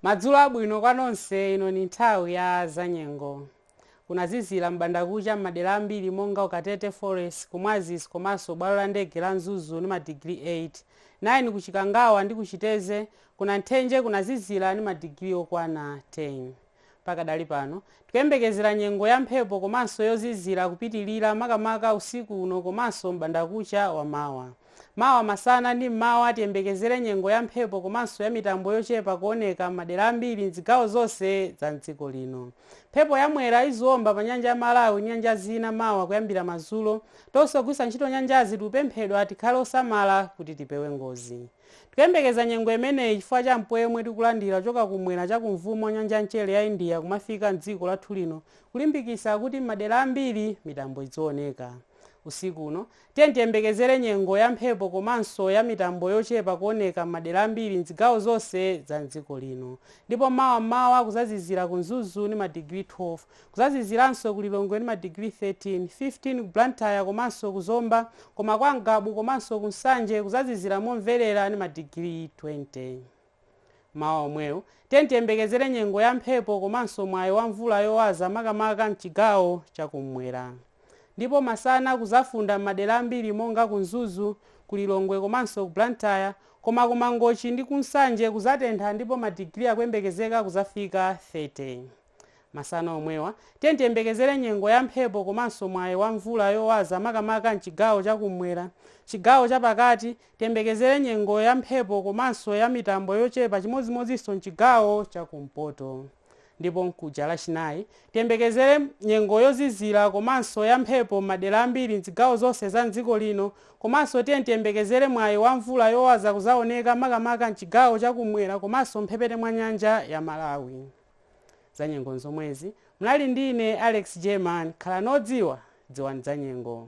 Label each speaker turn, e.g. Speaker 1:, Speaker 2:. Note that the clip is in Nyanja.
Speaker 1: madzulo abwino kwa nonse ino ni nthawi ya zanyengo kunazizira m'bandakucha m'madera ambiri monga ku Katete forest ku Mwazisi komanso bwalo la ndege la mzuzu ni madigiri 8 9 ku chikangawa ndi ku Chitedze ku Nanthenje kunazizira ni madigiri okwana 10 Pakadali pano, tikuyembekezera nyengo ya mphepo komanso yozizira kupitilira makamaka usiku uno komanso m'bandakucha wa mawa. Mawa masana ndi m'mawa tiyembekezere nyengo ya mphepo komanso ya mitambo yochepa kuoneka m'madera ambiri m'zigawo zonse za m'dziko lino. Mphepo ya Mwera iziomba pa nyanja ya Malawi ndi nyanja zina mawa kuyambira madzulo. Tonse ogwiritsa ntchito nyanjazi tikupemphedwa tikhale osamala kuti tipewe ngozi. Tikuyembekeza nyengo imeneyi chifukwa cha mpweya omwe tikulandira kuchoka kumwera cha kumvuma kwa nyanja ya mchere ya India kumafika m'dziko lathu lino kulimbikitsa kuti m'madera ambiri mitambo idzioneka. Usiku uno, tiyeni tiyembekezere nyengo ya mphepo komanso ya mitambo yochepa kuoneka m'madera ambiri m'zigawo zonse za m'dziko lino. Ndipo mawa m'mawa kuzazizira ku Mzuzu ndi madigiri 12. Kuzaziziranso ku Lilongwe ndi ma degree 13, 15 ku Blantyre komanso ku Zomba koma kwa Ngabu komanso ku Nsanje kuzazizira momverera ndi ma degree 20. Mmawa omwewu, tiyeni tiyembekezere nyengo ya mphepo komanso mwayi wa mvula yowaza makamaka mchigawo cha kummwera. Ndipo masana kuzafunda mmadera ambiri monga ku Mzuzu, ku Lilongwe komanso ku Blantyre koma ku Mangochi ndi ku Nsanje kuzatentha ndipo ma degree akuyembekezeka kuzafika 30. Masana omwewa, tiyeni tiyembekezere nyengo ya mphepo komanso mwayi wa mvula yowaza makamaka m'chigawo cha kum'mwera. Chigawo cha pakati, tiyembekezere nyengo ya mphepo komanso ya mitambo yochepa chimodzimodzinso m'chigawo cha kumpoto. Ndipo mkuja Lachinayi, tiyembekezere nyengo yozizira komanso ya mphepo m'madera ambiri m'zigawo zonse za m'dziko lino komanso tiyeni tiyembekezere mwayi wa mvula yowaza kuzaoneka makamaka m'chigawo cha kum'mwera komanso mphepete mwa nyanja ya Malawi. Zanyengo nzomwezi. Munali ndi ine Alex German. Khalani odziwa, dziwani zanyengo.